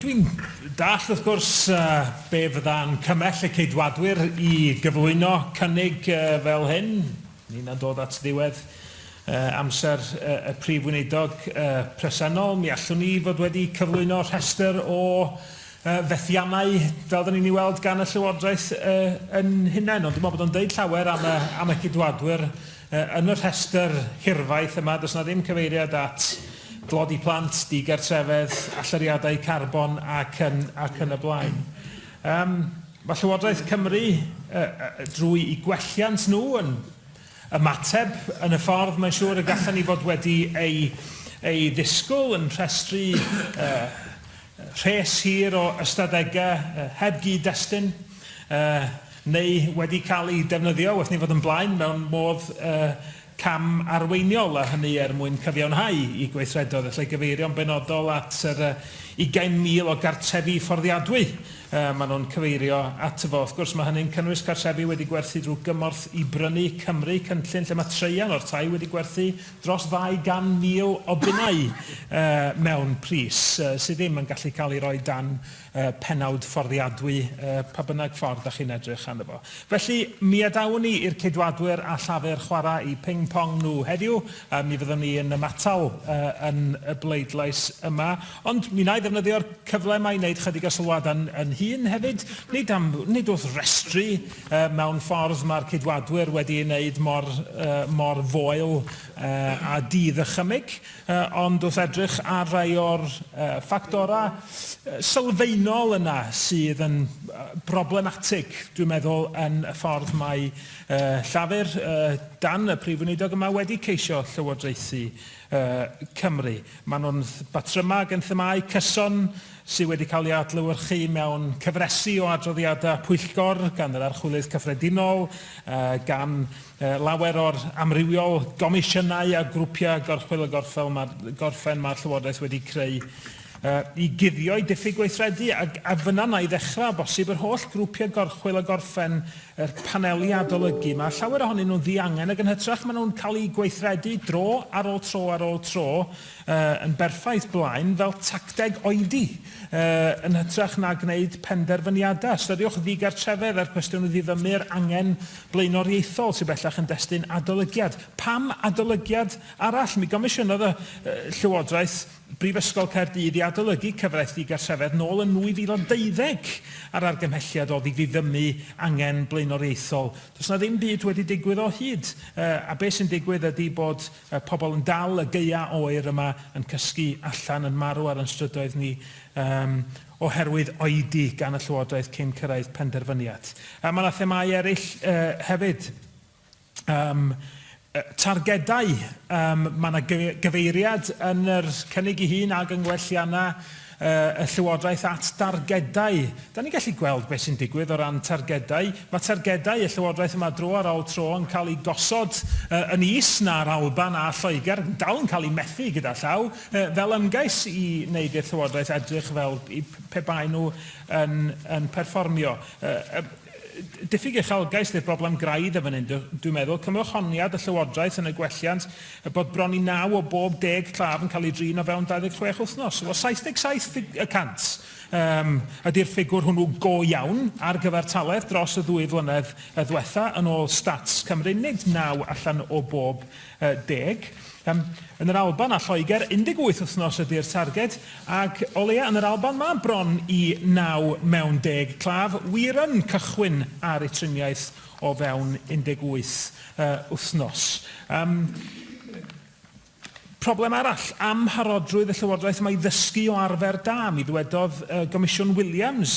Dwi'n dallt, wrth gwrs, be fydda'n cymell y Ceidwadwyr i gyflwyno cynnig fel hyn. Ninna'n dod at ddiwedd amser y Prif Weinidog presennol. Mi allwn ni fod wedi cyflwyno rhestr o fethiannau, fel dan ni'n ei weld gan y Llywodraeth yn hunain, ond dwi'n meddwl bod o'n deud llawer am y Ceidwadwyr, Yn y rhestr hirfaith yma, does yna ddim cyfeiriad at dlodi plant, digartrefedd, allyriadau carbon ac yn ac yn y blaen. Yym, mae Llywodraeth Cymru, yy yy drwy'i gwelliant nhw, yn ymateb yn y ffordd mae'n siŵr y gallen ni fod wedi ei ei ddisgwyl, yn rhestru yy Rhes hir o ystadegau heb gyd-destun neu wedi cael eu defnyddio, wrth ni fod yn blaen, mewn modd cam arweiniol, a hynny er mwyn cyfiawnhau i gweithredoedd, a lle gyfeirio'n benodol at yr 20,000 o gartrefi fforddiadwy maen nhw'n cyfeirio ato fo. Wrth gwrs, mae hynny'n cynnwys cartrefi wedi gwerthu drwy gymorth i brynu Cymru, cynllun lle mae traean o'r tai wedi gwerthu, dros 200,000 o bunnau mewn pris sydd ddim yn gallu cael ei roi dan pennawd fforddiadwy pa bynnag ffordd da chi'n edrych arno fo. Felly, mi adawn ni i'r Ceidwadwyr a Llafur chwarae i ping pong nhw heddiw, a mi fyddwn ni yn ymatal yn y bleidlais yma. Ond mi wna i ddefnyddio'r cyfle yma i wneud chydig o sylwadau yn hun hefyd, nid am, nid wrth restru Mewn ffordd, mae'r Ceidwadwyr wedi ei wneud mor, mor foel â di-ddychymyg, ond wrth edrych ar rai o'r ffactorau sylfaenol yna sydd yn broblematig, dwi'n meddwl, yn y ffordd mae Llafur, dan y Prif Weinidog yma, wedi ceisio llywodraethu Cymru. Maen nhw'n batryma ag yn themâu cyson, sydd wedi cael ei adlewyrchu mewn cyfresi o adroddiadau pwyllgor gan yr Archwilydd Cyffredinol, gan lawer o'r amrywiol gomisiynau a grwpiau gorchwyl a gorffen mae'r Llywodraeth wedi creu i guddio'i diffyg gweithredu, a fynna wna i ddechrau, o bosib, yr holl grwpiau gorchwyl a gorffen yr paneli adolygu. Mae llawer ohonyn nhw'n ddiangen ac yn hytrach maen nhw'n cael eu gweithredu dro ar ôl tro ar ôl tro, yn berffaith blaen fel tacteg oedi yn hytrach na gwneud penderfyniadau. Ystyriwch ddigartrefedd a'r cwestiwn o ddiddymu yr angen blaenoriaethol sydd bellach yn destun adolygiad. Pam adolygiad arall? Mi gomisiynodd y Llywodraeth Brifysgol Caerdydd i adolygu cyfraith ddigartrefedd nôl yn 2012 a'r argymhelliad oedd i ddiddymu angen blaenoriaethol. Does yna ddim byd wedi digwydd o hyd a beth sy'n digwydd ydy bod Y pobl yn dal y gaea oer yma yn cysgu allan yn marw ar yn strydoedd ni um, oherwydd oedi gan y Llywodraeth cyn cyrraedd penderfyniad. Uh, mae yna themau eraill uh, hefyd. Um, targedau, um, mae yna gyfeiriad yn yr cynnig i hun ag yng ngwelliannau y Llywodraeth at dargedau. Da ni'n gallu gweld beth sy'n digwydd o ran targedau. Mae targedau y Llywodraeth yma dro ar ôl tro yn cael eu gosod yn is na'r Alban a Lloegr, dal yn cael eu methu gyda llaw, fel ymgais i wneud i'r Llywodraeth edrych fel pe baen nhw yn perfformio. Diffyg uchelgais ydy'r broblem graidd yn fan hyn, dwi'n meddwl. Cymwch honiad y Llywodraeth yn y gwelliant. Er bod bron i naw o bob deg claf yn cael ei drin o fewn 26 wythnos, o 77 y cant, yym, ydi'r ffigwr hwnnw go iawn ar gyfer taledd dros y ddwy flynedd ddwetha, yn ôl Stats Cymru, nid naw allan o bob deg. Yym, yn yr Alban a Lloegr, 18 wythnos ydi'r targed, ac o leia' yn yr Alban ma' bron i naw mewn deg claf wir yn cychwyn ar eu triniaeth o fewn 18 wythnos. Problem arall, amharodrwydd y Llywodraeth yma i ddysgu o arfer da. Mi ddwedodd Gomisiwn Williams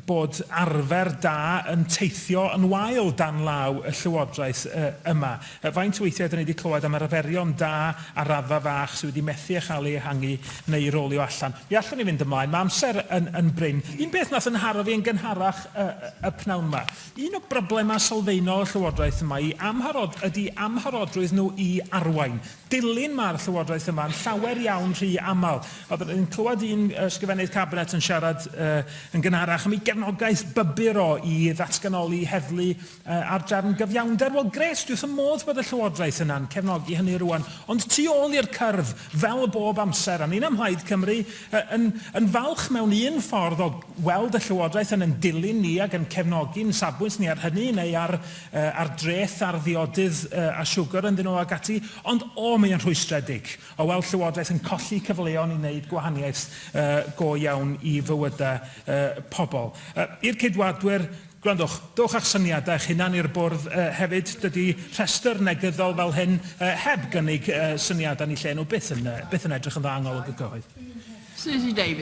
bod arfer da yn teithio yn wael dan law y Llywodraeth yma. Faint o weithiau ydyn ni wedi clywed am arferion da ar raddfa fach sydd wedi methu â chael eu ehangu neu rolio allan? Mi allwn ni fynd ymlaen, mae amser yn, yn brin. Un peth wnaeth yn nharo fi yn gynharach y, y pnawn yma, un o broblemau sylfaenol y Llywodraeth yma i amharod, ydy amharodrwydd nhw i arwain. Dilyn mae'r Llywodraeth yma yn llawer iawn rhy aml. Oedden ni'n clywed un Ysgrifennydd Cabinet yn siarad uh, yn gynharach am ei gefnogaeth bybyr o i ddatganoli heddlu Ar drefn gyfiawnder, wel grêt, dwi wrth fy modd bod y Llywodraeth yna'n cefnogi hynny rŵan, ond tu ôl i'r cyrff, fel bob amser, a ni'n ym Mhlaid Cymru yn yn falch mewn un ffordd o weld y Llywodraeth yn yn dilyn ni ac yn cefnogi'n safbwynt ni ar hynny neu ar ar dreth ar ddiodydd a siwgr yn ddynol ac ati, ond o, mae o'n rhwystredig o weld Llywodraeth yn colli cyfleon i wneud gwahaniaeth go iawn i fywydau pobl. I'r Ceidwadwyr, Gwrandwch, dowch â'ch syniadau eich hunan i'r bwrdd hefyd, dydy rhestr negyddol fel hyn heb gynnig syniadau ni lle nhw byth yn byth yn edrych yn dda yng ngolwg y cyhoedd. Suzy Davies.